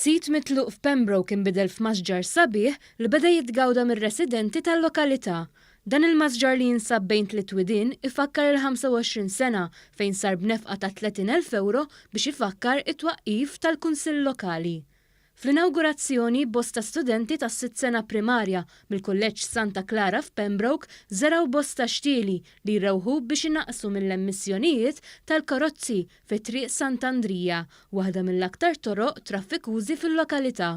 Sit mitluq f'Pembroke inbidel f'masġar sabiħ li beda jitgawda mir-residenti tal-lokalità. Dan il-masġar li jinsab bejn tliet widien ifakkar il-25 sena fejn sar b'nefqa ta' 30,000 ewro biex ifakkar it-twaqqif tal-Kunsill Lokali. Fl-inawgurazzjoni, bosta studenti tas-sitt sena primarja mill-Kulleġġ Santa Clara f'Pembroke żergħu bosta xtieli li jrewħu biex inaqqsu mill-emissjonijiet tal-karozzi fi Triq Sant'Andrija, waħda mill-aktar toroq traffikużi fil-lokalità.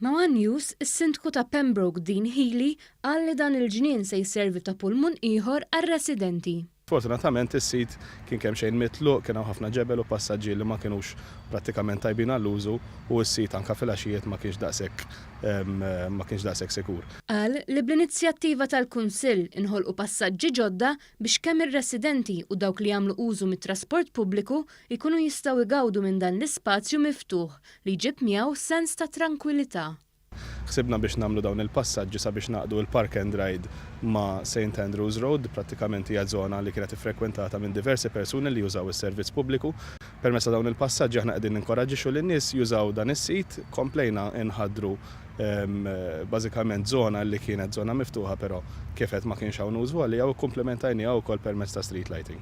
Ma' one News, is-Sindku ta' Pembroke Dean Healey qal li dan il-ġnien se jservi ta' pulmun ieħor għar-residenti. Fortunatament is-sit kien kemxejn mitluq, kien hawn ħafna ġebel u passaġġi li ma kinux prattikament tajbin għall-użu u s-sit anke fil-għaxijiet ma kienx daqshekk ma kienx daqshekk sikur. Qal li bl-inizjattiva tal-Kunsill inħolqu passaġġi ġodda biex kemm ir-residenti u dawk li jagħmlu użu mit-trasport pubbliku jkunu jistgħu jgawdu minn dan l-ispazju miftuħ li jġib miegħu sens ta' trankwilità. Ħsibna biex nagħmlu dawn il-passaġġi sabiex nagħqdu l-Park and Ride ma' Saint Andrew's Road, prattikament hija żona li kienet iffrekwentata minn diversi persuni li jużaw is-servizz pubbliku. Permezz ta' dawn il-passaġġi aħna qegħdin ninkoraġġixxu lin-nies jużaw dan is-sit. Komplejna nħaddru bażikament żona li kienet żona miftuħa però kif għedt ma kienx hawn użu għaliha u kkumplementajniha wkoll permezz ta' street lighting.